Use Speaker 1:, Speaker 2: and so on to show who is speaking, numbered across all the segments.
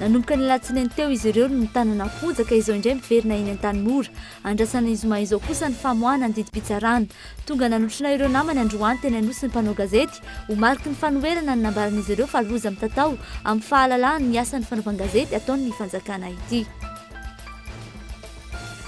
Speaker 1: Nanomboka ny alatsinainy teo izy ireo no nitanana fojaka ka izao indray miverina eny Antanimora. Andrasana ny zoma izao kosa ny famoahana ny didim-pitsarana. Tonga nanotrona ireo namany androany teny Anosy ny mpanao gazety ho mariky ny fanoherana ny nambaran'izy ireo fa loza mitatao amin'ny fahalalahany ny asan'ny fanaovan-gazety ataon'ny fanjakana ity.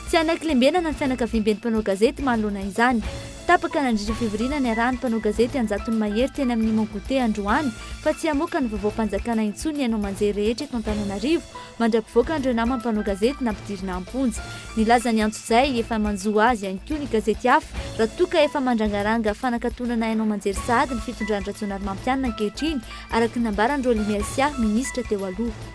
Speaker 1: Tsy hanaklembenana ny fianakaviamben'ny mpanao gazety manoloana izany. Tapaka nandritra fivoriana niarahan'ny mpanao gazety an-jatony mahery teny amin'ny Mon Goûter androany fa tsy hamoaka ny vaovaom-panjakana intsony ny haino aman-jery rehetra eto Antananarivo mandra-pivoaka an'ireo namany mpanao gazety nampidirina am-ponja. Nilaza ny antso izay efa manjo azy ihany koa ny gazety hafa raha toa ka efa mandrangaranga fanakatonana haino aman-jery sahady ny fitondran'i Rajaonarimampianina ankehitriny, araka ny nambaran'i Rolly Mercia, minisitra teo aloha.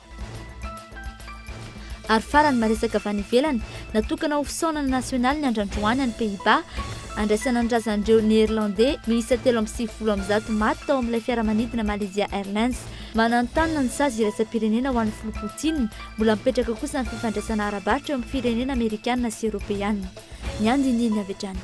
Speaker 1: Ary farany, maresaka avy any ivelany, natokana ho fisaonana nasionaly ny andro androany any Pays-Bas, handraisana ny razan'ireo Neerlandey miisa telo amby sivifolo amin'ny zato maty tao amin'ilay fiaramanidina Malaysia Airlines. Mananontanona ny sazy iraisam-pirenena ho an'i Filoha Putin, mbola mipetraka kosa ny fifandraisana ara-barotra eo amin'ny firenena Amerikana sy Eoropeana. Ny andinindininy avy hatrany.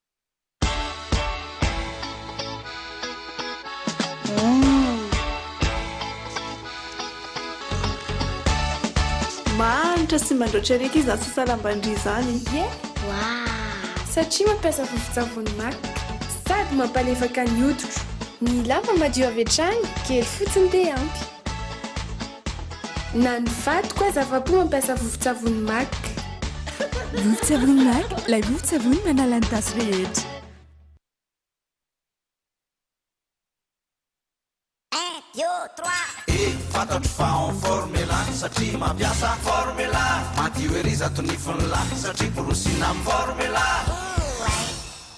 Speaker 2: Mahantra sy mandraotra eriky izany sasalam-ban-dry izany. Ie? Waah! Satria
Speaker 3: mampiasa vovon-tsavony maka. Sady mampalefaka ny hoditro. Ny lamba madio avy hatrany, kely fotsiny dia ampy. Na ny vadiko aza afa-po mampiasa vovon-tsavony Mac.
Speaker 4: Vovon-tsavony Mac, ilay vovon-tsavony manala ny tasy rehetra. Un,
Speaker 5: deux, trois. E, fantatro fa en forme la satria mampiasa forme la Madio ery izato nifon'la satria borosina amin'ny forme la.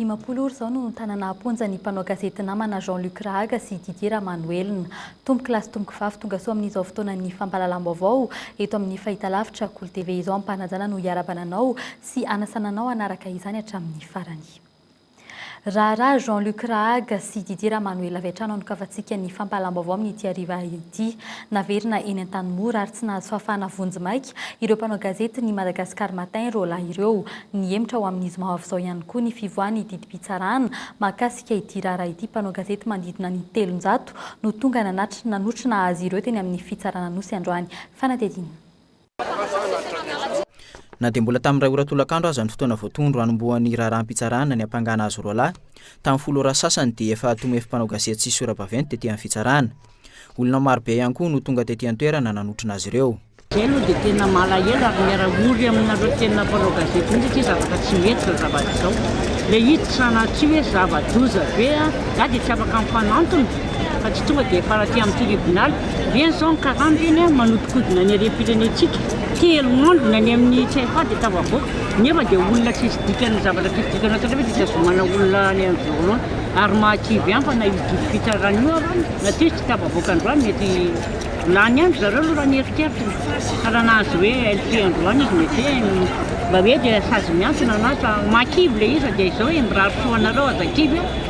Speaker 6: Dimampolo ora izao no nitanana am-ponja ny mpanao gazety namana Jean Luc Rahaga sy Didier Ramanoelina. Tompoko lahy sy tompoko vavy tonga soa amin'izao fotoanan'ny fampahalalam-baovao eto amin'ny fahitalavitra Kolo TV izao ampanajana no hiara-bananao sy hanasana anao hanaraka izany hatramin'ny farany. Raharaha Jean Luc Rahaga sy Didier Ramanuel avy hatrany anokavantsika ny fampahalam-baovao amin'ity hariva ity. Naverina eny Antanimora ary tsy nahazo fahafahana vonjy maika ireo mpanao gazety ny Madagascar Matin ireo lahy ireo. Nihemotra ho amin'ny zoma ho avy izao ihany koa ny fivoahan'ny didim-pitsarana mahakasika ity raharaha ity. Mpanao gazety manodidina ny telonjato no tonga nanatrika nanotrona azy ireo teny amin'ny fitsaran'Anosy androany. Fanadihadiana.
Speaker 7: Na dia mbola tamin'ny iray ora tolakandro aza ny fotoana voatondro hanombohan'ny raharaham-pitsarana ny hampangana azy roa lahy, tamin'ny folo ora sasany dia efa tomoefin'ny mpanao gazety sy sora-baventy tetỳ amin'ny fitsarana. Olona maro be ihany koa no tonga tetỳ an-toerana nanotrona azy ireo. Izahay aloha dia tena
Speaker 8: malahelo ary miara-ory aminareo tena mpanao gazety mihitsy satria zavatra tsy mety izao zavatra izao. Ilay izy sanatria hoe zava-doza be, izaho dia tsy afaka mifanantona fa tsy tonga dia hifanatreha amin'ny tiribonaly. Dia izao ny karama ireny an, manodikodina ny harem-pirenentsika, telo andro ny any amin'ny CFA dia tafavoaka, nefa dia olona tsisy dikany ny zavatra tsisy dikany atao nefa dia tazomana olona any amin'ny violon ary mahakivy hampana io didy fitsarana io ary na tsia izy tsy tafavoaka androany mety lany andro zareo aloha raha ny eritreritriny fa raha nahazo hoe LP androany izy mety mba hoe dia sazy miantona na mahakivy ilay izy fa dia izao e, mirary soa anareo aza kivy an.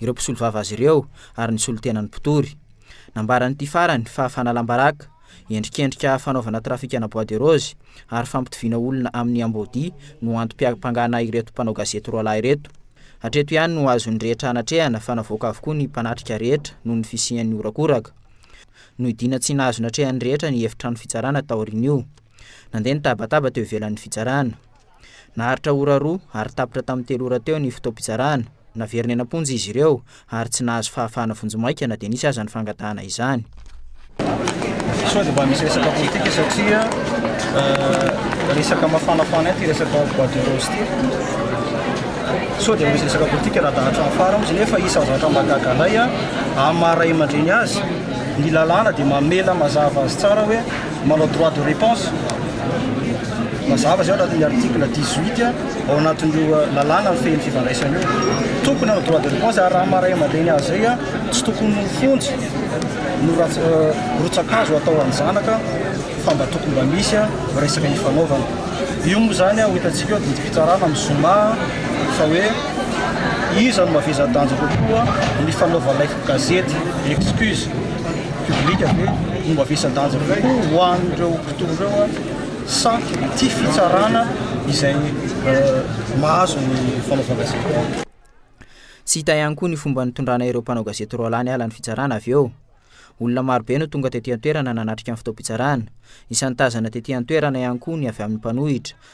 Speaker 7: ireo mpisolovava azy ireo ary ny solontenan'ny mpitory. Nambaran'ity farany fa fanalam-baraka, endrikendrika fanaovana trafikana bois de rose ary fampitoviana olona amin'ny amboadia no antom-piampangana ireto mpanao gazety roa lahy ireto. Hatreto ihany no azon'ny rehetra anatrehana fa navoaka avokoa ny mpanatrika rehetra noho ny fisian'ny horakoraka. Nohidiana tsy nahazo natrehan'ny rehetra ny efitrano fitsarana taorian'io. Nandeha ny tabataba teo ivelan'ny fitsarana. Naharitra ora roa ary tapitra tamin'ny telo ora teo ny fotoam-pitsarana. Naverina eny am-ponja izy ireo ary tsy nahazo fahafahana vonjimaika na dia nisy aza ny fangatahana izany.
Speaker 9: Sao dia mba misy resaka politika satria resaka mafanafana ity resaka bois de rose ity. Sao dia misy resaka politika raha dahatra amin'ny fara mihitsy nefa isan'ny zavatra mahagaga anay amin'ny maha ray aman-dreny azy ny lalàna dia mamela mazava azy tsara hoe Manao droit de réponse. Mazava izay ao anatin'ny article 18 ao anatin'io lalàna mifehy ny fifandraisana io. Tokony hanao droit de réponse ary raha maha ray aman-dreny azy izay a, tsy tokony ho fonjy no rats- euh, rotsa-kazo atao an'ny zanaka fa mba tokony mba misy a, resaka ifanaovana. Io moa izany a, ho hitantsika eo didim-pitsarana amin'ny zoma a, fa hoe iza no mavezaha-danja kokoa ny fanaovan'ilay Gazety Excuse publique ve no mavesa-danja kokoa ho an'ireo mpitory ireo sa ity fitsarana izay mahazo ny fanaovana gazety?
Speaker 7: Tsy hita ihany koa ny fomba nitondrana ireo mpanao gazety roa lahy niala ny fitsarana avy eo. Olona marobe no tonga tety an-toerana nanatrika ny fotoam-pitsarana. Isan'ny tazana tety an-toerana ihany koa ny avy amin'ny mpanohitra,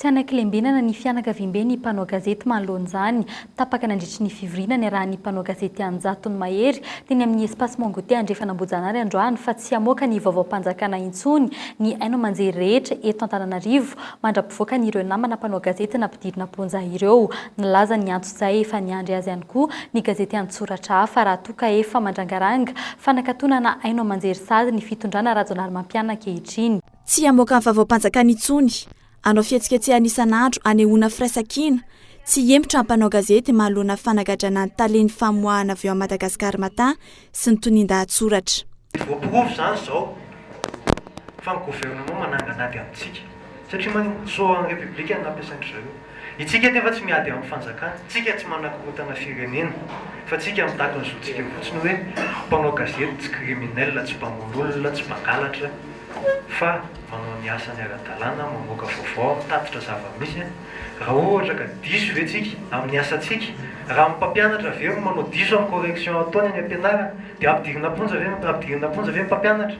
Speaker 6: Tsy hanakilembenana ny fianakaviambe ny mpanao gazety manoloan'izany. Tapaka nandritry ny fivoriana niarahan'ny mpanao gazety an-jatony mahery teny amin'ny Espace Mongote Andrefan'Ambojanary androany fa tsy hamoaka ny vaovaom-panjakana intsony ny haino aman-jery rehetra eto Antananarivo mandra-pivoaka an'ireo namana mpanao gazety nampidirina am-ponja ireo. Nilaza ny anton'izay efa niandry azy ihany koa ny gazety an-tsoratra hafa raha toa ka efa mandrangaranga fanakatonana haino aman-jery sazy ny fitondrana Rajonarimampiana ankehitriny. Tsy hamoaka ny
Speaker 10: vaovaom-panjakana intsony, hanao fihetsiketsehana isan'andro hanehoana firaisankina, tsy hihemotra ny mpanao gazety manoloana fanagadrana ny talen'ny famoahana avy ao amin'ny Madagascar Matin sy ny tonian-dahatsoratra. Tsy voaporofo
Speaker 11: izany izao fa ny gouvernement mananganady amintsika satria mantsy soran'ny Repiblika no nampiasain-dry zareo. Itsika anefa tsy miady amin'ny fanjakana, tsika tsy manakorontana firenena, fa tsika mitaky ny zontsika fotsiny hoe mpanao gazety tsy criminel, tsy mpamono olona, tsy mpangalatra fa manao ny asany ara-dalàna, mamoaka vaovao, mitatitra zava-misy, raha ohatra ka diso ve tsika amin'ny asantsika? Raha ny mpampianatra ve no manao diso amin'ny correction ataony any am-pianarana dia ampidirina am-ponja ve ny ampidirina am-ponja ve ny mpampianatra?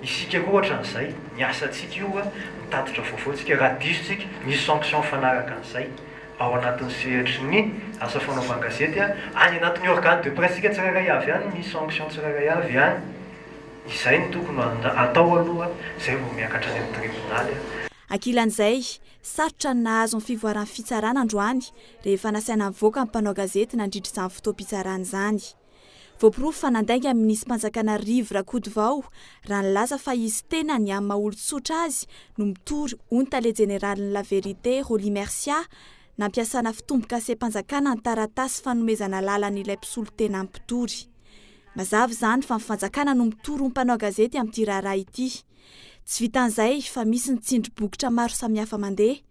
Speaker 11: Isika koa ohatran'izay, ny asantsika io a, mitatitra vaovao tsika, raha diso tsika, misy sanction mifanaraka an'izay ao anatin'ny sehatry ny asa fanaovan-gazety a, any anatin'ny organe de presse tsika tsirairay avy any misy sanction tsirairay avy any, izay no tokony ho atao aloha, izay vao miakatra any amin'ny tribonaly a. Ankilan'izay,
Speaker 10: sarotra ny nahazo ny fivoaran'ny fitsarana androany, rehefa nasaina nivoaka ny mpanao gazety nandritra izany fotoam-pitsarana izany. Voaporofo fa nandainga ny minisi-panjakana Rivo Rakotovao raha nilaza fa izy tenany amin'ny maha olon-tsotra azy no mitory hoy ny tale jeneralin'ny La Vérité, Rolly Mercia, nampiasana fitombokasem-panjakana ny taratasy fanomezana lalana ilay mpisolo tena mpitory. Mazava izany fa ny fanjakana no mitory ho mpanao gazety amin'ity raharaha ity. Tsy vitan'izay fa misy ny tsindry bokotra maro samihafa mandeha.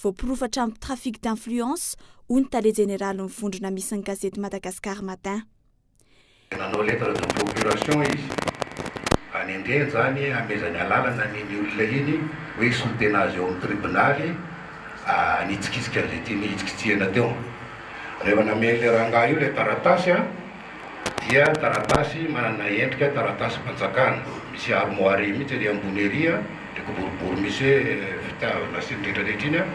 Speaker 10: Voaporofa hatramin'ny trafic d'influence, hoy ny tale jeneralin'ny vondrona misy ny gazety Madagascar Matin.
Speaker 12: Nanao lettre de procuration izy hanendrena izany hanomezany alalana an'iny olona iny hoe hisolo tena azy eo amin'ny tribonaly hanitsikitsika an'izay tiany hitsikitsihana teo. Rehefa nameren'ilay rangahy io ilay taratasy, dia taratasy manana endrika taratasim-panjakana, misy armoire mihitsy ery ambony ery an, ilay kiboribory misy hoe fitiavana sy ny rehetrarehetra iny an,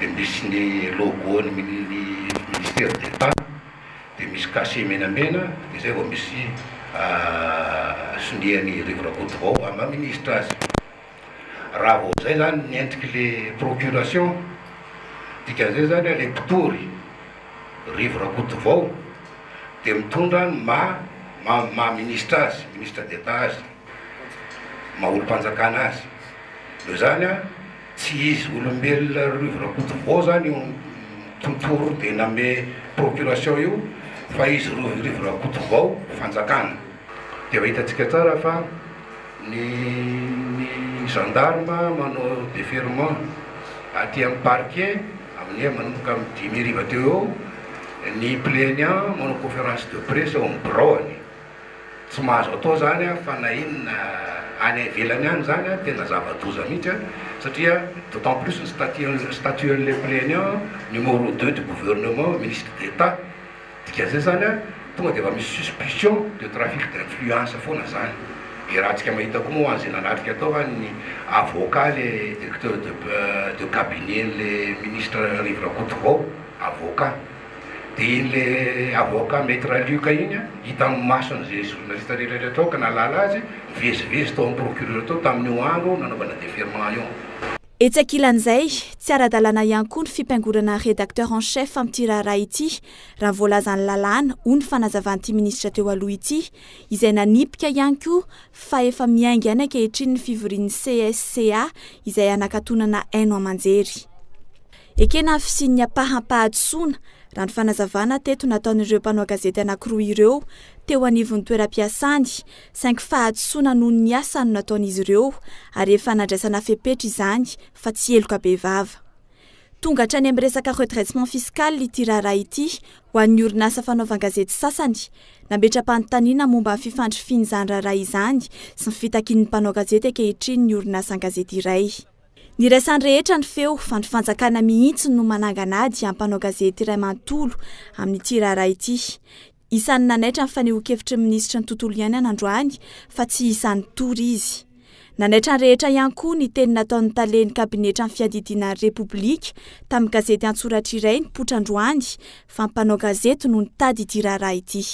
Speaker 12: dia misy ny logo ny ministère d'Etat, dia misy cachet menamena, dia izay vao misy sonia an'i Rivo Rakotovao maha ministra azy. Raha vao izay izany nentik' le procuration, dikan'izay izany le mpitory, Rivo Rakotovao, dia mitondra ny maha maha ministra azy, ministre d'Etat azy, maha olom-panjakana azy. Noho izany, tsy izy olombelona Rivo Rakotovao izany io mpitory dia name procuration io fa izy Rivo Rakotovao fanjakana. Dia efa hitantsika tsara fa Ny ny gendarme manao deferment aty amin'ny parquet amin'ny heure manomboka amin'ny dimy hariva teo eo, ny plaignant manao conférence de presse eo amin'ny biraony. Tsy mahazo atao izany an, fa na inona any ivelany any izany an, tena zava-doza mihitsy an, satria d'autant plus ny statut ny statut an'ilay plaignant, numéro deux du gouvernement, ministre d'Etat, Dikan'izay zany an, tonga dia efa misy suspicion de trafic d'influence foana zany. Dia raha antsika mahita koa moa ho an'izay nanatrika tao fa ny avocat le directeur de de cabinet n'le ministre Rivo Rakotovao, avocat. Dia iny le avocat Maitre Luc iny an, hita amin'ny masony izay journaliste rehetra rehetra tao ka nahalala azy, nivezivezy tao amin'ny procureur tao tamin'io andro nanaovana deferment io. Etsy ankilan'izay,
Speaker 10: tsy ara-dalàna ihany koa ny fipaingorana Rédacteur en chef amin'ity raharaha ity, raha ny voalazan'ny lalàna, hoy ny fanazavan'ity minisitra teo aloha ity, izay nanipika ihany koa fa efa miainga any ankehitriny ny fivorian'ny CSCA izay hanakatonana haino aman-jery. Ekena ny fisian'ny ampaham-pahadisoana, raha ny fanazavana teto nataon'ireo mpanao gazety anankiroa ireo teo anivon'ny toeram-piasany, saingy fahadisoana noho ny asa no nataon'izy ireo ary efa nandraisana fepetra izany fa tsy heloka bevava. Tonga hatrany amin'ny resaka redressement fiscal ity raharaha ity ho an'ny orinasa fanaovan-gazety sasany, nametra-panontaniana momba ny fifandrifian'izany raharaha izany sy ny fitakian'ny mpanao gazety ankehitriny ny orinasan-gazety iray. Niraisan'ny rehetra ny feo fa ny fanjakana mihitsy no manangana ady amin'ny mpanao gazety iray manontolo amin'ity raharaha ity. Isan'ny nanaitra ny fanehoan-kevitry ny minisitry ny Tontolo iainana androany fa tsy isan'ny tory izy. Nanaitra ny rehetra ihany koa ny teny nataon'ny talen'ny kabinetra ny fiadidiana ny Repoblika tamin'ny gazety an-tsoratra iray nipoitra androany fa mpanao gazety no nitady ity raharaha ity.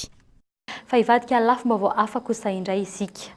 Speaker 10: Fa
Speaker 6: hivadika lafim-baovao hafa kosa indray isika.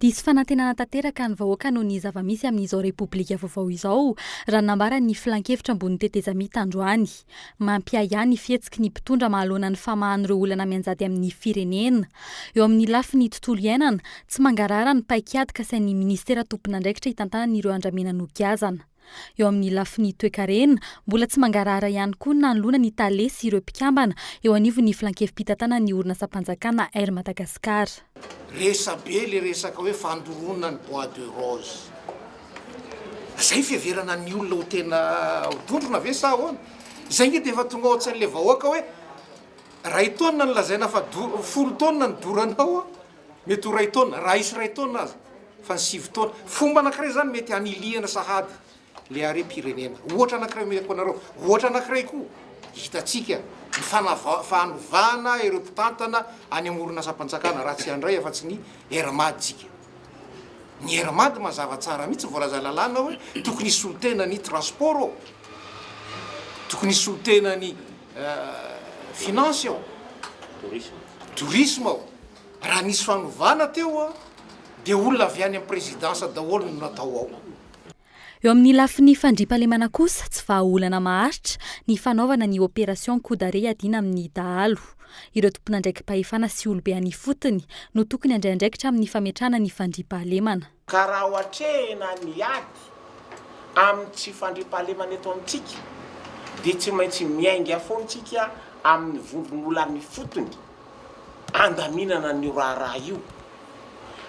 Speaker 6: Diso fanantenana tanteraka ny vahoaka noho ny zava-misy amin'izao Repoblika vaovao izao, raha ny nambaran'ny Filankevitra ambonin'ny tetezamita androany. Mampiahiahy ny fihetsiky ny mpitondra mahaloana ny famahan'ireo olana mianjady amin'ny firenena. Eo amin'ny lafiny tontolo iainana, tsy mangarahara ny paikady kasain'ny Minisitera tompon'andraikitra hitantanana ireo andramena nogiazana. Eo amin'ny lafiny toekarena, mbola tsy mangarahara ihany koa ny nanoloana ny tale sy ireo mpikambana eo anivon'ny Filankevi-pitantanan'ny orinasam-panjakana Air Madagascar. Resabe
Speaker 13: le resaka hoe fandoroana ny bois de rose. Zay fiheverana ny olona ho tena ho dondrona ve sa ahoana? Zay nge defa tonga ao an-tsain'le vahoaka hoe ray taonina no lazaina fa folo taonina no doranao. Mety ho iray taona, raha hisy iray taona aza, fa ny sivy taona. Fomba anankiray izany mety hanilihana sahady ilay harem-pirenena. Ohatra anankiray omeko anareo. Ohatra anankiray koa, hitantsika ny fanava- fanovana ireo mpitantana any amin'ny orinasam-panjakana, raha tsy handray afa-tsy ny RMAD tsika. Ny RMAD mazava tsara mihitsy ny voalazan'ny lalàna hoe tokony hisolo tena ny transport ô, tokony hisolo tena ny Finances ao, Tourisme ao, raha nisy fanovana teo dia olona avy any amin'ny Présidence daholo no natao ao. Eo amin'ny
Speaker 6: lafiny fandriampahalemana kosa, tsy vahaolana maharitra ny fanaovana ny opération coup d'arrêt hiadiana amin'ny dahalo. Ireo tompon'andraiki-pahefana sy olobe any ifotony no tokony handray andraikitra amin'ny fametrahana ny fandriampahalemana. Ka raha
Speaker 14: ohatrehina ny ady amin'ny tsy fandriampahalemana eto amintsika dia tsy maintsy miainga foana isika amin'ny vondron'olana ifotony handaminana an'io raharaha io.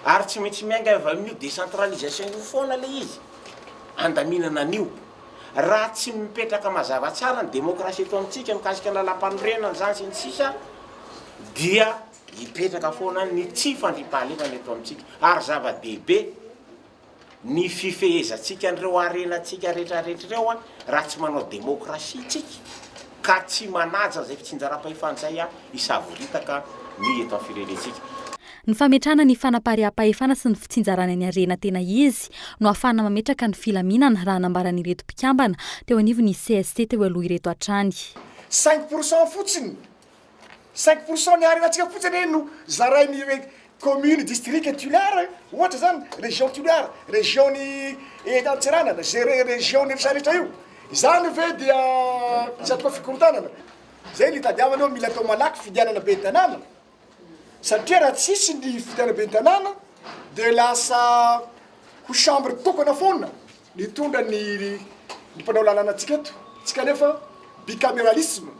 Speaker 14: Ary tsy maintsy miainga avy amin'io décentralisation io foana ilay izy handaminana an'io. Raha tsy mipetraka mazava tsara ny démocratie eto amintsika mikasika ny lalam-panorenana izany sy ny sisa dia. Hipetraka foana ny tsy fandriampahalemana eto amintsika ary zava-dehibe ny fifehezantsika an'ireo harenantsika rehetrarehetra ireo raha tsy manao demokrasia isika ka tsy manaja izay fitsinjaram-pahefana izay hisavoritaka ny eto amin'ny firenentsika. Ny fametrahana
Speaker 6: ny fanapariaham-pahefana sy ny fitsinjarana ny harena tena izy no hahafahana mametraka ny filaminana raha nambaran'ireto mpikambana teo anivon'ny cst teo aloha ireto hatrany. Cinq pour cent
Speaker 15: fotsiny Cinq pour cent ny harenantsika fotsiny anie no zarain'ny commune district tulaire ohatra zany région tulaire région-ny Antsiranana izay région-ny Fisaha rehetra io izany ve dia tsy atao fikorontanana zay ny itadiavana hoe mila atao malaky fidianana ben'ny tanàna satria raha tsisy ny fidianana ben'ny tanàna dia lasa ho chambre tokana foana Nitondra ny ny mpanao lalàna antsika eto, tsika anefa bicameralisme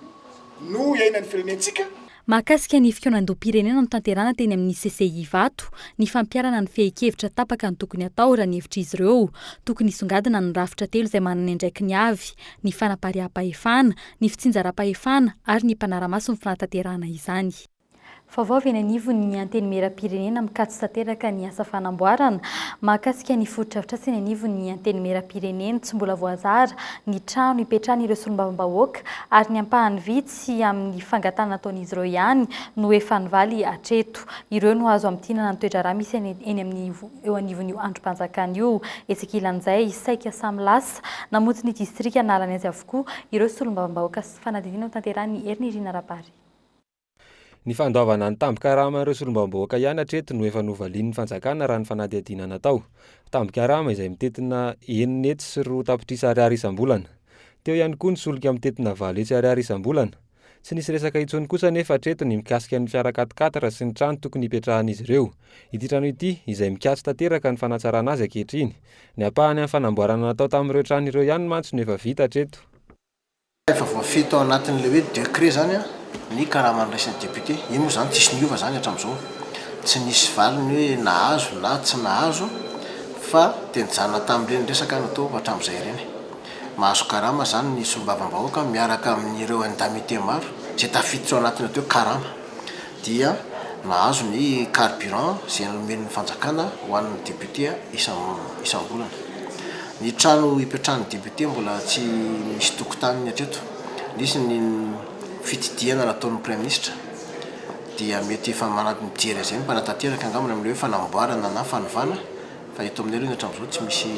Speaker 15: no iainan'ny firenentsika. Mahakasika ny
Speaker 6: fikaonandoham-pirenena notanterahana teny amin'ny CCI Ivato, ny fampiharana ny fehin-kevitra tapaka no tokony hatao raha ny hevitr'izy ireo. Tokony hisongadina ny rafitra telo izay manana ny andraikiny avy, ny fanapariaham-pahefana, ny fitsinjaram-pahefana ary ny mpanara-maso ny fanatanterahana izany. Vaovao avy eny anivon'ny Antenimierampirenena mikatso tanteraka ny asa fanamboarana mahakasika ny fotodrafitrasa eny anivon'ny Antenimierampirenena. Tsy mbola voazara ny trano hipetrahan'ireo solombavambahoaka ary ny ampahany vitsy amin'ny fangatahana nataon'izy ireo ihany no efa nivaly hatreto. Ireo no azo hamintinana ny toe-draharaha misy eny amin'ny eo anivon'io andrim-panjakana io. Etsy ankilan'izay, saika samy lasa namonjy ny distrika nahalany azy avokoa ireo solombavambahoaka sy fanadihadiana hotanterahin'ny Herinirina Rabary.
Speaker 16: Ny fandoavana ny tambin-karaman'ireo solombavambahoaka ihany hatreto no efa novalian'ny fanjakana raha ny fanadihadiana natao. Tambin-karama izay mitentina enina hetsy sy roa tapitrisa ariary isam-bolana. Teo ihany koa ny solika mitentina valo hetsy ariary isam-bolana. Tsy nisy resaka intsony kosa anefa hatreto ny mikasika ny fiara quat-quatre sy ny trano tokony hipetrahan'izy ireo. Ity trano ity izay mikatso tanteraka ny fanatsarana azy ankehitriny. Ny ampahany amin'ny fanamboarana natao tamin'ireo trano ireo ihany mantsy no efa vita hatreto. Ka efa
Speaker 13: voafehy tao anatin'ilay hoe décret izany ny karama niraisin'ny député. Io moa izany tsisy niova izany hatramin'izao. Tsy nisy valiny hoe nahazo na tsy nahazo fa dia nijanona tamin'ireny resaka natao hatramin'izay ireny. Mahazo karama izany ny solombavambahoaka miaraka amin'ireo indemnités maro izay tafiditra ao anatin'ny atao hoe karama. dia nahazo ny carburant izay nomen'ny fanjakana ho an'ny député isam-bolana. Ny trano ipetrahan'ny député mbola tsy misy tokotaniny hatreto. Nisy ny fitsidihana nataon'ny praiminisitra dia mety efa mijery an'izay ny mpanatanteraka angamba amin'ny hoe fanamboarana na fanovana fa eto aminay aloha ny hatramin'izao tsy misy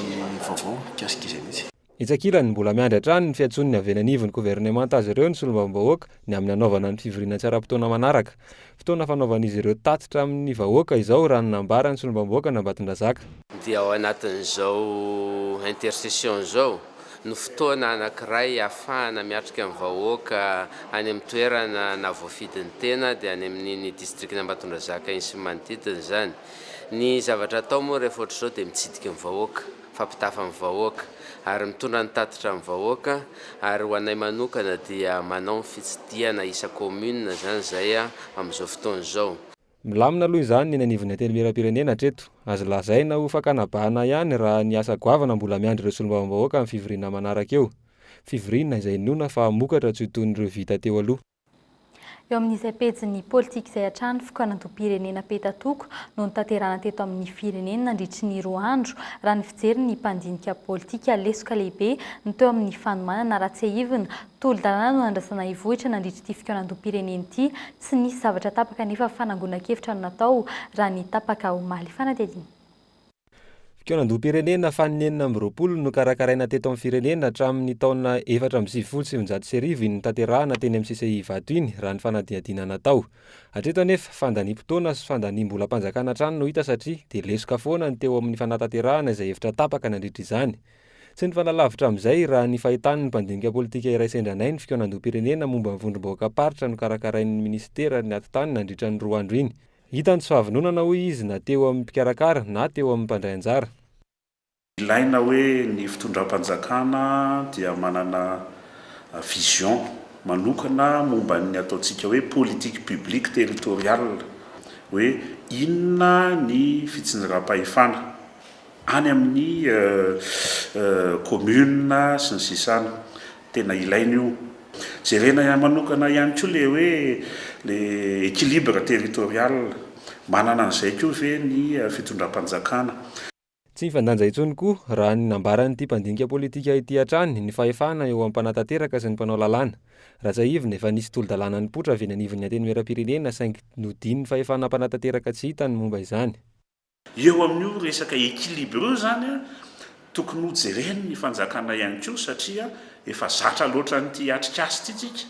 Speaker 13: vaovao mikasika izay mihitsy. Etsy ankilany, mbola miandry
Speaker 16: hatrany ny fiantsoan'ny havenanivon'ny governemanta azy ireo ny solombavambahoaka ny amin'ny hanaovana ny fivoriana tsy ara-potoana manaraka. Fotoana fanaovan'izy ireo tatitra amin'ny vahoaka izao raha ny nambaran'ny solombavambahoakan'Ambatondrazaka. Dia ao
Speaker 17: anatin'izao intercession izao no fotoana anankiray ahafahana miatrika ny vahoaka any amin'ny toerana nahavoafidin'ny tena dia any amin'iny distrikan'Ambatondrazaka iny sy ny manodidina izany. Ny zavatra atao moa rehefa ohatr'izao dia mitsidiky ny vahoaka. fampitafa ny vahoaka ary mitondra ny tatitra ny vahoaka ary ho anay manokana dia manao ny fitsidihana isa commune zany izay amin'izao fotoana izao. Milamina aloha
Speaker 16: izany ny eny anivon'ny Antenimierampirenena hatreto. Azo lazaina ho fakana bahana ihany raha ny asa goavana mbola miandry ireo solombavambahoaka amin'ny fivoriana manaraka eo. Fivoriana izay inoana fa hamokatra tsy ho toy ny ireo vita teo aloha. Eo
Speaker 6: amin'izay pejin'ny politika izay hatrany fokoan'andoham-pirenena petatoko no notanterahana teto amin'ny firenena nandritry ny roa andro, raha ny fijerin'ny mpandinika politika. Lesoka lehibe no teo amin'ny fanomanana raha tsiahivina. Tolo-dalàna no nandrasana hivohitra nandritry ity fikaonandoham-pirenena ity. Tsy nisy zavatra tapaka nefa fanangonan-kevitra no natao raha ny tapaka omaly. Fanadihadiana. Fikaonandoham-pirenena
Speaker 16: faninenina amby roapolo no nokarakaraina teto amin'ny firenena hatramin'ny taona efatra amby sivifolo sy sivinjato sy arivo iny notanterahana teny amin'ny CCI Ivato iny, raha ny fanadihadiana natao. Hatreto anefa, fandaniam-potoana sy fandaniam-bolam-panjakana hatrany no hita satria dia lesoka foana ny teo amin'ny fanatanterahana izay hevitra tapaka nandritra izany. Tsy nifanalavitra amin'izay, raha ny fahitan'ny mpandinika politika iray sendra anay, ny fikaonandoham-pirenena momba ny vondrom-bahoakam-paritra nokarakarain'ny minisitera ny atitany nandritra ny roa andro iny. Hita ny tsy fahavononana hoy izy na teo amin'ny mpikarakara na teo amin'ny mpandray anjara. Ilaina
Speaker 18: hoe ny fitondram-panjakana dia manana vision manokana momba ny ataontsika hoe politique publique territoriale, hoe inona ny fitsinjaram-pahefana. any amin'ny commune sy ny sisa any, tena ilaina io, jerena ihany manokana ihany koa le hoe le equilibre territorial, manana an'izay koa ve ny fitondram-panjakana. Tsy
Speaker 16: nifandanja intsony koa, raha ny nambaran'ity mpandinika politika ity hatrany, ny fahefana eo amin'ny mpanatanteraka sy ny mpanao lalàna. Raha tsiahivina, efa nisy tolo-dalàna nipoitra avy eny anivon'ny Antenimierampirenena saingy nodian'ny fahefana mpanatanteraka tsy hita ny momba izany. Eo amin'io
Speaker 18: resaka équilibre io izany a, tokony ho jeren'ny fanjakana ihany koa satria efa zatra loatra an'ity atrikasa ity tsika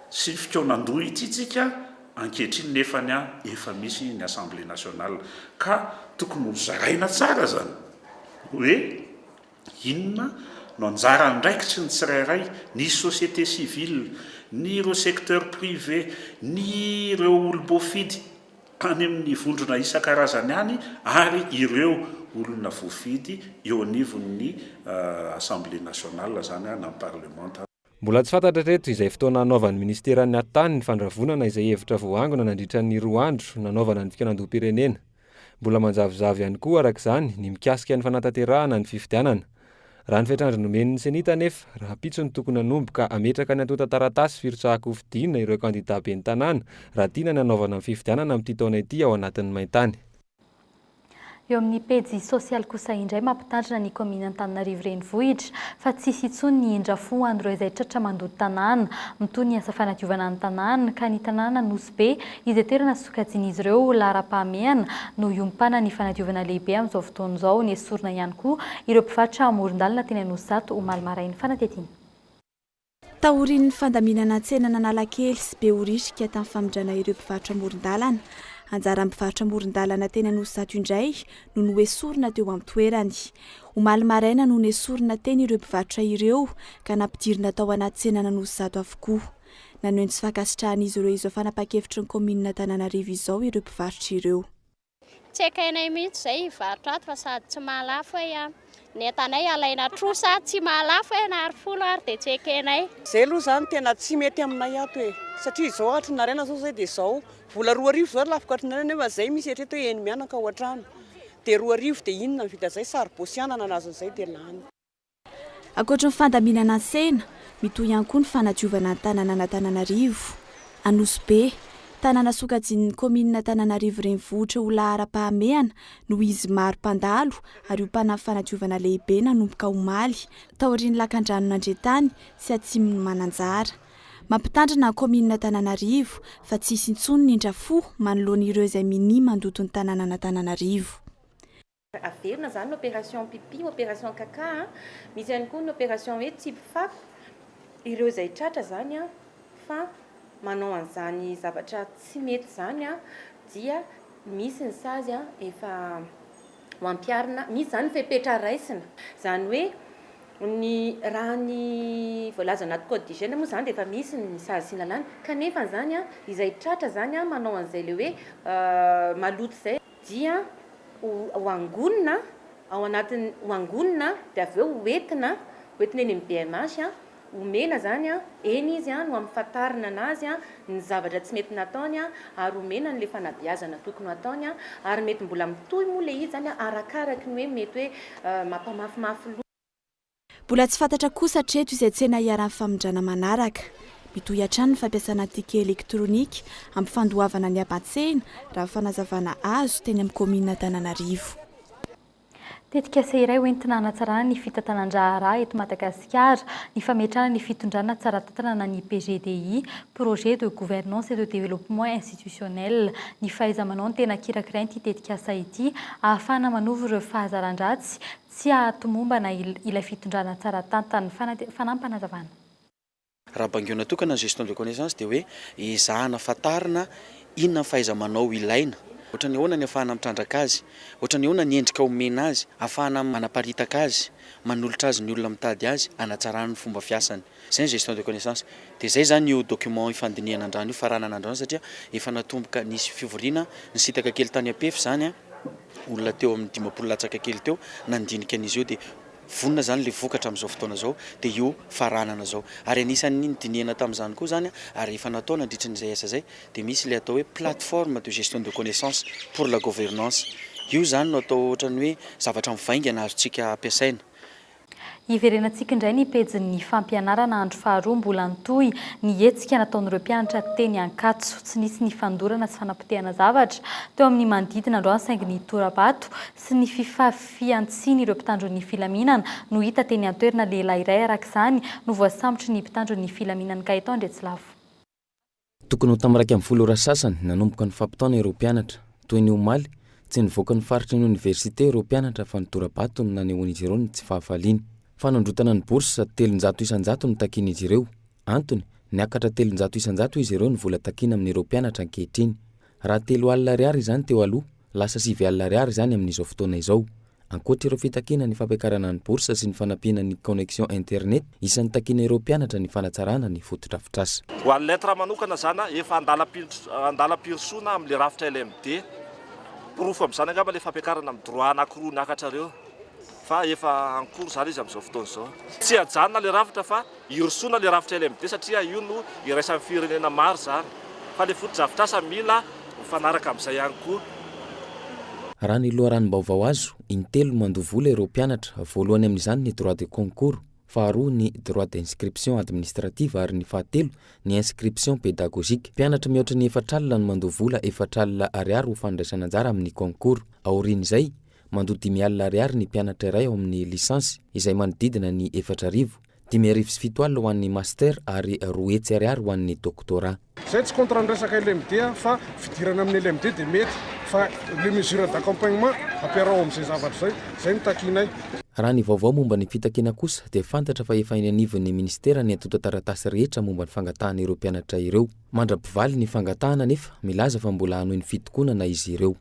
Speaker 18: sy fikaonandoha ity tsika ankehitriny nefany a efa misy ny assemblée nationale ka tokony ho zaraina tsara izany hoe inona no anjara andraikitry ny tsirairay, ny société civile, ny ireo secteur privé, ny ireo olom-boafidy. any amin'ny vondrona isan-karazany any ary ireo olona voafidy eo anivon'ny Assemblée nationale izany na ny Parlemanta. Mbola tsy fantatra
Speaker 16: hatreto izay fotoana hanaovan'ny Minisiteran'ny Hattany ny fandravonana izay hevitra voaangona nandritra ny roa andro nanaovana ny fikaonandoham-pirenena. Mbola manjavozavo ihany koa, araka izany, ny mikasika ny fanatanterahana ny fifidianana. Raha ny fetr'andro nomen'ny Cenit anefa, rahampitso no tokony hanomboka hametraka ny antontan-taratasy firotsahan-kofidina ireo kandidà ben'ny tanàna raha tiana ny hanaovana ny fifidianana amin'ity taona ity ao anatin'ny maintany.
Speaker 6: Eo amin'ny pejy sosialy kosa indray mampitandrina ny kaominina Antananarivo Renivohitra fa tsy hisy intsony ny indra fo ho an'ireo izay tratra mandoto tanàna mitohy ny asa fanadiovana ny tanàna ka ny tanàna Nosy Be, izay toerana sokajian'izy ireo ho laharam-pahamehana no hiompana ny fanadiovana lehibe amin'izao fotoana izao. Nesorina ihany koa ireo mpivarotra amoron-dalana teny Anosizato omaly marain'ny fanatetiana.
Speaker 10: Taorian'ny fandaminana tsenan'Analakely sy Behoririka tamin'ny famindrana ireo mpivarotra amoron-dalana, anjaran'ny mpivarotra amoron-dalana teny Anosizato indray no noesorina teo an-toerany. Omaly maraina no nesorina teny ireo mpivarotra ireo ka nampidirina tao anaty tsenan'Anosizato avokoa. Nanohy ny tsy fankasitrahan'izy ireo izao fanapahan-kevitry ny kaominin'Antananarivo izao ireo mpivarotra ireo. Tsy
Speaker 19: ekenay mihitsy izay hivarotra ato fa sady tsy mahalafo e an! Ny entanay alaina trosa, tsy mahalafo e an! Ary folo ary dia tsy ekenay. Izay aloha izany tena
Speaker 20: tsy mety aminay ato e! Satria izao hatry ny naraina izao izay dia izao, vola roa arivo izao lafo ka hatry ny naraina nefa izay misy eritrereto hoe eny mianaka ao an-trano dia roa arivo dia inona ny vidin'izay? Saribosy anana na azon'izay dia lany.
Speaker 10: Ankoatry ny fandaminana an-tsena, mitohy ihany koa ny fanadiovana ny tananan'Antananarivo. Anosibe, tanàna sokajian'ny kaominina Antananarivo Renivohitra ho laharam-pahamehana noho izy maro mpandalo ary ompanan'ny fanadiovana lehibe nanomboka omaly, taorian'ny lakandranon'Andriantany sy atsimon'i Mananjara. Mampitandrina ny kaominina Antananarivo fa tsy hisy intsony ny indra fo manoloana ireo izay minia mandoto ny tanànan'Antananarivo.
Speaker 21: Averina izany ny opération pipi, opération caca, misy ihany koa ny opération hoe tsipy fako, ireo izay tratra izany fa manao an'izany zavatra tsy mety izany dia misy ny sazy efa ho ampiharina, misy izany fepetra raisina, izany hoe ny raha ny voalaza ao anaty code d'hygiène moa izany dia efa misy ny sazy sy ny lalàna, kanefa izany izay tratra izany manao an'izay ilay hoe maloto izay, dia ho angonina ao anatin'ny, ho angonina dia avy eo ho entina, ho entina eny amin'ny BMH, omena izany eny izy no ampahafantarina an'azy ny zavatra tsy mety nataony ary omena an'ilay fanabeazana tokony ho ataony ary mety mbola mitohy moa ilay izy izany arakaraka ny hoe mety hoe mampamafimafy loha Mbola tsy
Speaker 10: fantatra kosa hatreto izay tsena hiharan'ny famindrana manaraka. Mitohy hatrany ny fampiasana ticket elektronika hampifandoavana ny haban-tsena, raha ny fanazavana azo teny amin'ny kaominina Antananarivo.
Speaker 6: Tetikasa iray hoentina hanatsarana ny fitantanan-draharaha eto Madagasikara ny fametrahana ny fitondrana tsara tantanana ny PGDI, Projet de Gouvernance et de Développement Institutionnel. Ny fahaiza-manao no tena kirakirain'ity tetikasa ity, ahafahana manovo ireo fahazaran-dratsy Tsy hahatomombana ilay fitondrana tsara tantana. Fanate-. Fanampanazavan-.
Speaker 22: Raha bangeona tokana ny gestion de connaissance dia hoe ezahana fantarina inona ny fahaiza-manao ilaina, ohatran'ny ahoana ny afahana mitrandraka azy, ohatran'ny ahoana ny endrika omena azy, afahana manaparitaka azy, manolotra azy ny olona mitady azy, hanatsarana ny fomba fiasany. Izay ny gestion de connaissance. Dia izay izany io document ifandinihana an-drano io, faranana an-drano satria efa natomboka nisy fivoriana, nisintaka kely tany Ampefy izany an, olona teo amin'ny dimampolo latsaka kely teo nandinika an'izy io dia vonona izany ilay vokatra amin'izao fotoana izao dia io faranana izao. Ary anisan'ny nidinihana tamin'izany koa izany an, ary efa natao nandritra ny izay asa izay dia misy ilay atao hoe plateforme de gestion de connaissance pour la governance. Io izany no atao ohatran'ny hoe zavatra mivaingana azontsika ampiasaina.
Speaker 6: Hiverenantsika indray ny pejin'ny fampianarana andro faharoa mbola nitohy ny hetsika nataon'ireo mpianatra teny Ankatso. Tsy nisy ny fandorana sy fanapotehana zavatra teo amin'ny manodidina androany saingy ny tora-bato sy ny fifafian-tsiny ireo mpitandro ny filaminana no hita teny an-toerana. Lehilahy iray araka izany no voasambotry ny mpitandro ny filaminan'Inkay tao Andriatsilavo.
Speaker 1: Tokony ho tamin'ny iraika ambin'ny folo ora sasany nanomboka ny fampitaona ireo mpianatra. Toy ny omaly, tsy nivoaka ny faritry ny oniversite ireo mpianatra fa nitora-bato no nanehoan'izy ireo ny tsy fahafaliany. Fanondrotana ny bourse, telonjato isan-jato no takian'izy ireo. Antony, niakatra telonjato isan-jato izy ireo ny vola takiana amin'ireo mpianatra ankehitriny. Raha telo alina ariary izany teo aloha, lasa sivy alina ariary izany amin'izao fotoana izao. Ankoatra ireo fitakiana ny fampiakarana ny bourse sy ny fanampiana ny connexion internet, isan'ny takiana ireo mpianatra ny fanatsarana ny fotodrafitrasa. Ho an'ny lettres manokana
Speaker 2: izany, efa andalam-pirosoana amin'ilay rafitra LMD. Porofo amin'izany angamba ilay fampiakarana amin'ny droit anankiroa niakatrareo, fa efa en cours izany izy amin'izao fotoana izao. Tsy hiajanona ilay rafitra fa hirosoana le rafitra LMD satria io no iraisan'ny firenena maro izany fa le fotodrafitrasa mila mifanaraka amin'izay ihany koa.
Speaker 1: Raha ny loharanom-baovao azo, in-telo no mandoa vola ireo mpianatra, voalohany amin'izany ny droit de concours, faharoa ny droit d'inscription administrative ary ny fahatelo ny inscription pédagogique. Mpianatra mihoatra ny efatra alina no mandoa vola efatra alina ariary ho fandraisana anjara amin'ny concours. Aorian'izay, mandoa dimy alina ariary ny mpianatra iray ao amin'ny lisansy, izay manodidina ny efatra arivo. Dimy arivo sy fito alina ho an'ny Master ary roa hetsy ariary ho an'ny Doctorat. Zay tsy contre ny
Speaker 3: resaka LMD aho fa fidirana amin'ny LMD dia mety fa les mesures d'accompagnement ampiaraho amin'izay zavatra izay, zay no takianay. Raha ny vaovao
Speaker 1: momba ny fitakiana kosa dia fantatra fa efa eny anivon'ny Ministera ny antontan-taratasy rehetra momba ny fangatahana ireo mpianatra ireo. Mandra-pivaly ny fangatahana nefa milaza fa mbola hanohy ny fitokonana izy ireo.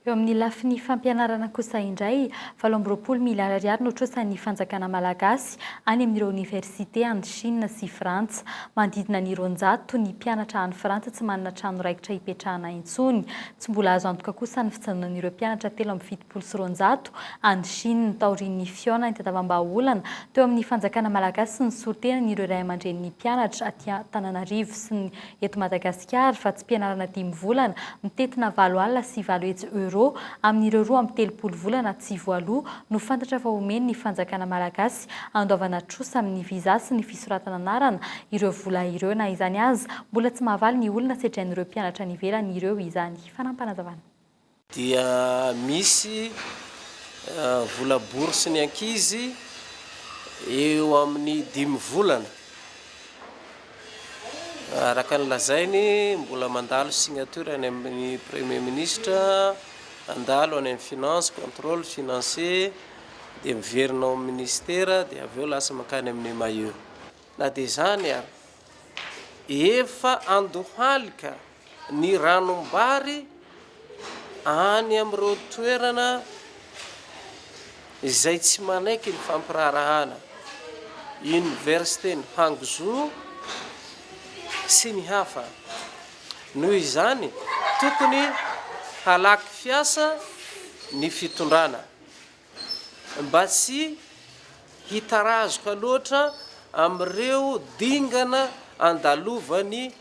Speaker 1: Eo amin'ny
Speaker 6: lafiny fampianarana kosa indray, valo amby roapolo miliara ariary no trosan'ny fanjakana malagasy any amin'ireo oniversite any Shina sy Frantsa. Manodidina ny roanjato ny mpianatra any Frantsa tsy manana trano raikitra hipetrahana intsony. Tsy mbola azo antoka kosa ny fijanonan'ireo mpianatra telo amby fitopolo sy roanjato any Shina taorian'ny fihaonan'ny tandavambahaolana teo amin'ny fanjakana malagasy sy ny solotenan'ireo ray aman-drenin'ny mpianatra aty Antananarivo sy ny eto Madagasikara fa tsy mpianarana dimy volana mitentina valo alina sy valo hetsy euros amin'ireo roa amby telopolo volana tsy voaloa no fantatra fa omen'ny fanjakana malagasy handoavana trosa amin'ny visa sy ny fisoratana anarana ireo vola ireo. Na izany aza, mbola tsy mahavaly ny olona sedrain'ireo mpianatra any ivelany ireo izany. Fanampanazavan'i. dia
Speaker 4: misy vola bourse ny ankizy eo amin'ny dimy volana araka ny lazainy mbola mandalo signature any amin'ny premier ministre handalo any amin'ny finance controle financier dia miverina ao amin'ny ministera dia avy eo lasa mankany amin'ny maio na dia izany ary Efa andohalika ny ranom-bary any amin'ireo toerana izay tsy manaiky ny fampiraharahana, Oniversiten'i Hangzhou sy ny hafa. Noho izany, tokony halaky fiasa ny fitondrana. Mba tsy hitarazoka loatra amin'ireo dingana andalovany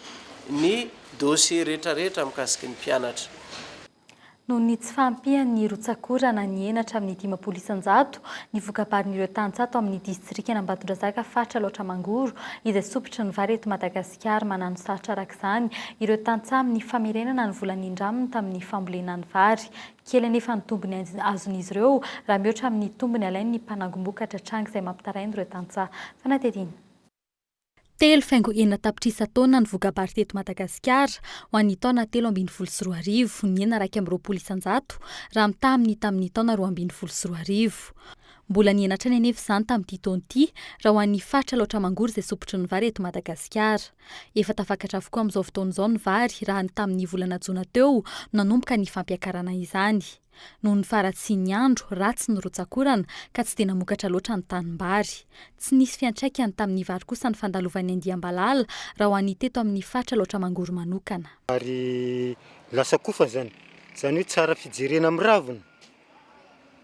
Speaker 4: ny dossier rehetrarehetra mikasiky ny mpianatra.
Speaker 6: Noho ny tsy fahampian'ny rotsak'orana ny henatra amin'ny dimampolo isan-jato, ny voka-barin'ireo tany tsato amin'ny distrikan'Ambatondrazaka faritra Alaotra Mangoro izay sompitry ny vary eto Madagasikara manano sarotra araka izany ireo tantsaha amin'ny famerenana ny vola nindraminy tamin'ny fambolena ny vary Kely anefa ny tombony azon'izy ireo raha mihoatra amin'ny tombony alain'ny mpanangom-bokatra tranga izay mampitaraina ireo tantsaha. Fanadihadiana. Telo faingo enina tapitrisa taonina ny voka-bary teto Madagasikara ho an'ny taona telo ambin'ny folo sy roa arivo, nihena iraika amby roapolo isan-jato raha mitaha amin'ny tamin'ny taona roa ambin'ny folo sy roa arivo. Mbola nihena hatrany anefa izany tamin'ity taona ity raha ho an'ny faritra Alaotra Mangoro izay sompitry ny vary eto Madagasikara. Efa tafakatra avokoa amin'izao fotoana izao ny vary raha ny tamin'ny volana jona teo no nanomboka ny fampiakarana izany. Noho ny faharatsian'ny andro, ratsy ny rotsak'orana ka tsy dia namokatra loatra ny tanimbary. Tsy nisy fiantraikany tamin'ny vary kosa ny fandalovan'ny andiam-balala raha ho an'ny teto amin'ny faritra Alaotra Mangoro manokana. Ary
Speaker 23: lasa kofa izany. Izany hoe tsara fijerena amin'ny raviny.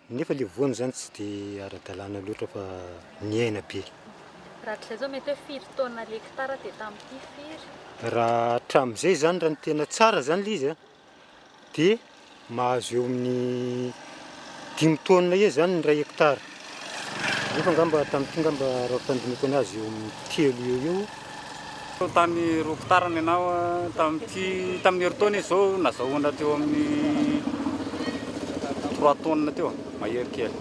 Speaker 23: Nefa
Speaker 5: ilay voany izany tsy dia ara-dalàna loatra fa ny aina be. Rak'izay izao
Speaker 6: mety hoe firy taona l'hectare dia tamin'ity firy? Raha
Speaker 5: hatramin'izay izany raha ny tena tsara izany ilay izy dia mahazo eo amin'ny dimy taonina eo izany ny iray hectare. Nefa angamba tamin'ity angamba raha ny fandinihiko anazy eo amin'ny telo eo eo. Tany
Speaker 8: roa kitarany ianao tamin'ity tamin'ny herintaona izy izao nazahoana teo amin'ny trois tonnes teo mahery kely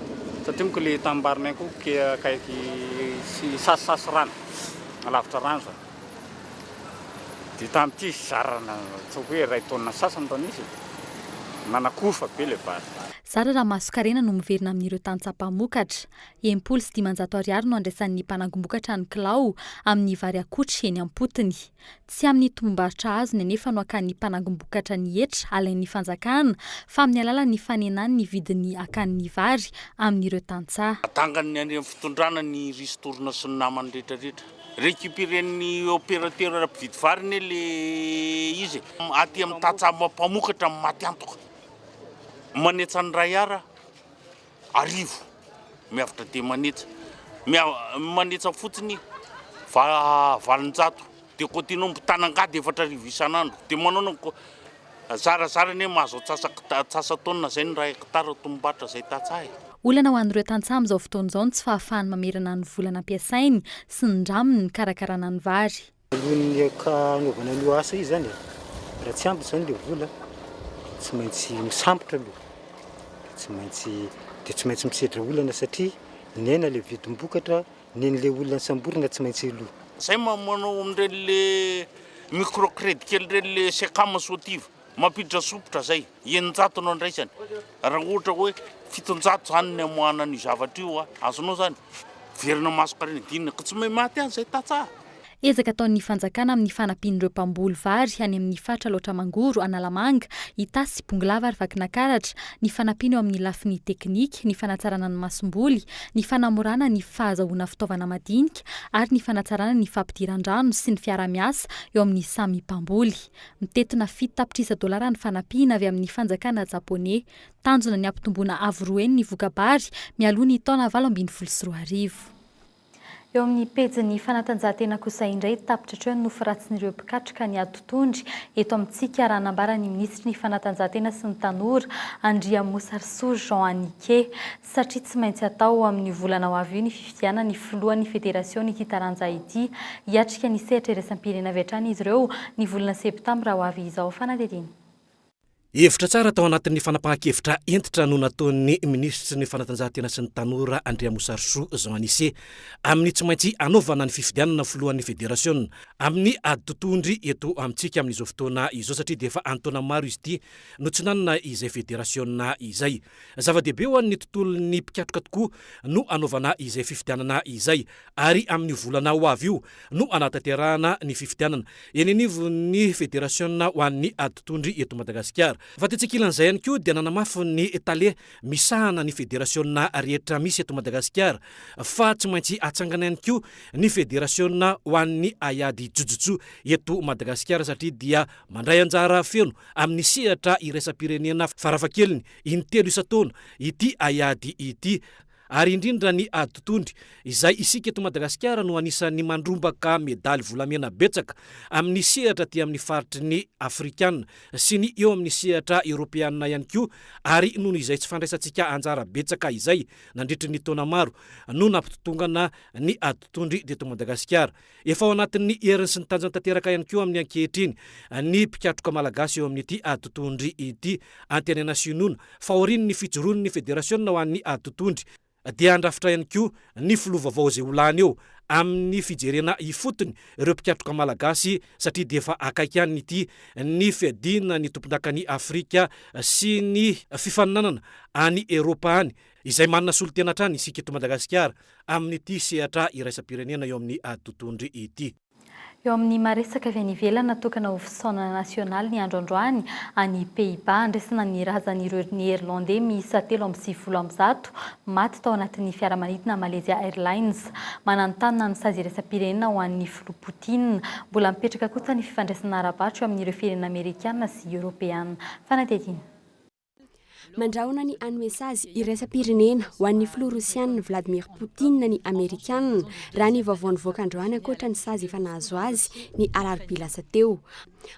Speaker 8: satria moa ilay tanimbarinay koa ke akaiky sasisasy rano alavitra rano izany dia tamin'ity zarana ataoko hoe iray taonina sasany taona izy nanakofa be ilay vary. Zara raha masonkarena
Speaker 6: no miverina amin'ireo tantsaha mpamokatra. Enimpolo sy dimanjato ariary no andraisan'ny mpanangom-bokatra ny kilao amin'ny vary akotry eny am-potony. Tsy amin'ny tombom-barotra azony anefa no akan'ny mpanangom-bokatra ny hetra alain'ny fanjakana fa amin'ny alalan'ny fanenany ny vidiny akan'ny vary amin'ireo tantsaha. Atangany ny an'ireny
Speaker 18: fitondrana ny ristourne sy ny namany rehetra rehetra. Recuperen'ny opérateur mpividy vary anie ilay izy e! Aty amin'ny tantsaha mpamokatra no maty antoka. Manetsa ny iray Ar arivo miavotra dia manetsa. Manetsa fotsiny va valonjato. Dia continuer mitana angady efatra arivo isan'andro. Dia manao ny zarazara anie mahazo antsasa-taona izay ny iray hectare tombom-barotra izay tantsaha e. Olana ho an'ireo
Speaker 6: tantsaha amin'izao fotoana izao ny tsy fahafahany mamerana ny vola nampiasainy sy ny ndraminy nikarakarana ny vary. Voalohan'ny
Speaker 5: hanaovana an'io asa io izany, raha tsy ampy izany ilay vola dia tsy maintsy misambotra aloha, dia tsy maintsy, dia tsy maintsy misedra olana satria ny aina ilay vidim-bokatra, ny an'ilay olona nisamborina tsy maintsy aloha. Zay manao
Speaker 18: amin'ireny le micro credit kely ireny le Secam Sotiva. Mampiditra sompitra izay, eninjato no andraisany, raha ohatra hoe fitonjato izany ny hamoahana an'io zavatra io, azonao izany? Miverina maso karena dinina, ka tsy may maty any izay tantsaha. Ezaka ataon'ny
Speaker 6: fanjakana amin'ny fanampian'ireo mpamboly vary any amin'ny faritra Alaotra Mangoro, Analamanga, Itasy, Bongolava ary Vakinankaratra ny fanampiana eo amin'ny lafiny teknika, ny fanatsarana ny masomboly, ny fanamorana ny fahazahoana fitaovana madinika ary ny fanatsarana ny fampidiran-drano sy ny fiaraha-miasa eo amin'ny samy mpamboly. Mitentina fito tapitrisa dolara ny fanampiana avy amin'ny fanjakana Japoney. Tanjona ny hampitomboana avo roa heny ny voka-bary mialoha ny taona valo ambin'ny folo sy roa arivo. Eo amin'ny pejin'ny fanatanjahantena kosa indray, tapitra hatreo ny nofy ratsin'ireo mpikatroka ny adotondry eto amintsika, raha nambara ny minisitry ny fanatanjahantena sy ny tanora, Andriamosarisoa Jean Anike. satria tsy maintsy hatao ao amin'io volana ho avy io ny fifidianan'ny filohan'ny federasion'ity taranja ity. Hiatrika ny sehatra iraisam-pirenena avy hatrany izy ireo, ny volana septambra ho avy izao. Fanadihadiana. Hevitra
Speaker 24: tsara tao anatin'ny fanapahan-kevitra hentitra no nataon'ny minisitry ny Fanatanjahantena sy ny tanora, Andriamosarisoa Jean Anise, amin'ny tsy maintsy hanaovana ny fifidianana filohan'ny federasiona amin'ny ady totohondry eto amintsika amin'izao fotoana izao satria dia efa an-taona maro izy ity no tsy nanana izay federasiona izay. Zava-dehibe ho an'ny tontolon'ny mpikatroka tokoa no anaovana izay fifidianana izay, ary amin'io volana ho avy io no hanatanterahana ny fifidianana eny anivon'ny federasiona ho an'ny aditondry eto Madagasikara. Fa tetsy ankilan'izay ihany koa dia nanamafy ny tale misahana ny federasiona rehetra misy eto Madagasikara fa tsy maintsy hatsangana ihany koa ny federasiona ho an'ny haiady jojotsu eto Madagasikara satria dia Mandray anjara feno amin'ny sehatra iraisam-pirenena farafahakeliny in-telo isan-taona ity haiady ity, ary indrindra ny aditondry, izay isika eto Madagasikara no anisan'ny mandrombaka medaly volamena betsaka amin'ny sehatra aty amin'ny faritry ny Afrikana sy ny eo amin'ny sehatra Eoropeana ihany koa, ary noho izay tsy fandraisantsika anjara betsaka izay nandritry ny taona maro no nampitotongana ny aditondry teto Madagasikara. Efa ao anatin'ny heriny sy ny tanjany tanteraka ihany koa amin'ny ankehitriny ny mpikatroka malagasy eo amin'ity aditontry ity. Antenaina sy inoana fa aorian'ny fijoroan'ny federasiona ho an'ny aditontry dia handrafitra ihany koa ny filoha vaovao izay ho lany eo amin'ny fijerena ifotony ireo mpikatroka malagasy satria dia efa akaiky any ity ny fiadiana ny tompondakan'i Afrika sy ny fifaninanana any Eropa any Izay manana solontena hatrany isika eto Madagasikara amin'ity sehatra iraisam-pirenena eo amin'ny ady totohondry ity. Eo amin'ny
Speaker 6: maha-resaka avy any ivelany natokana ho fisaonana nasionaly ny andro androany any Pays-Bas, andraisana ny razan'ireo Neerlandey miisa telo amby sivifolo amby zato maty tao anatin'ny fiaramanidina Malaysia Airlines. Mananontanona ny sazy iraisam-pirenena ho an'ny Filoha Putin. Mbola mipetraka kosa ny fifandraisana ara-barotra eo amin'ireo firenena Amerikana sy Eoropeana. Fanadihadiana.
Speaker 7: Mandrahona ny hanome sazy iraisam-pirenena ho an'ny filoha Rosiana Vladimir Poutine ny Amerikanina, raha ny vaovao nivoaka androany ankoatra ny sazy efa nahazo azy ny alarobia lasa teo.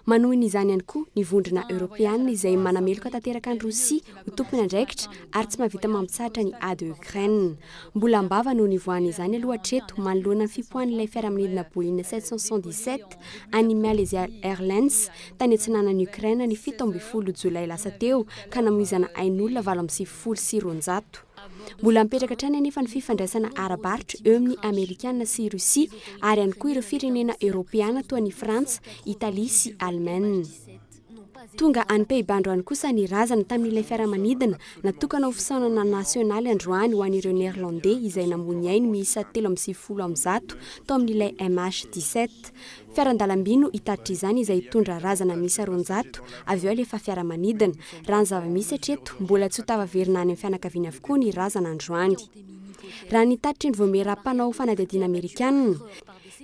Speaker 7: Manohy ny izany ihany koa ny vondrona Eoropeana izay manameloka tanteraka an'i Rosia ho tompon'andraikitra ary tsy mahavita mampitsahatra ny ady ao Ukraine. Mbola am-bava no nivoahany izany aloha hatreto manoloana ny fipoahan'ilay fiaramanidina Boeing 777 an'ny Malaysia Airlines tany atsinanan'i Ukraine ny fito ambin'ny folo jolay lasa teo ka namoizana ain'olona valo amby sivifolo sy roanjato. Mbola mipetraka hatrany anefa ny fifandraisana ara-barotra eo amin'ny Amerikana sy Russie ary ihany koa ireo firenena Eoropeana toa an'i Frantsa, Italie sy Allemagne. Tonga any Pays-Bas androany kosa ny razana tamin'ilay fiaramanidina natokana ho fisaonana nasionaly androany ho an'ireo Néerlandais izay namoy ny ainy miisa telo amby sivifolo amin'ny zato tao amin'ilay MH17. Fiaran-dalamby no hitatitra izany izay hitondra razana miisa roanjato, avy eo alefa fiaramanidina. Raha ny zava-misy hatreto, mbola tsy ho tafaverina any amin'ny fianakaviany avokoa ny razana androany. Raha ny hitatitra indro voamiera mpanao fanadihadiana amerikanina,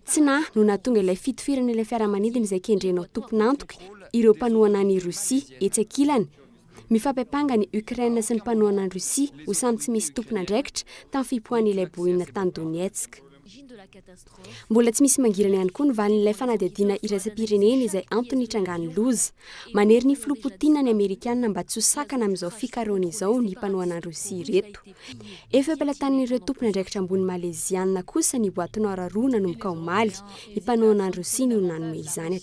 Speaker 7: tsy na no nahatonga ilay fitohirana ilay fiaramanidina izay kendrenao tompon'antoka ireo mpanohana an'i Rosia etsy ankilany, Mifampiampanga ny Ukraine sy ny mpanohana an'i Russie ho samy tsy misy tompon'andraikitra tamin'ny fipoahan'ilay boina tany Donetsk. Mbola tsy misy mangirana ihany koa ny valin'ilay fanadihadiana iraisam-pirenena izay antony nitrangan'ny loza. Manery ny filoha Putin ny Amerikana mba tsy ho sakana amin'izao fikarohana izao ny mpanohana an'i Russie ireto. Efa am-pelatanan'ireo tompon'andraikitra ambony Maleziana kosa ny boaty noir roa nanomboka omaly. Ny mpanohana an'i Russie ny olona nanome izany.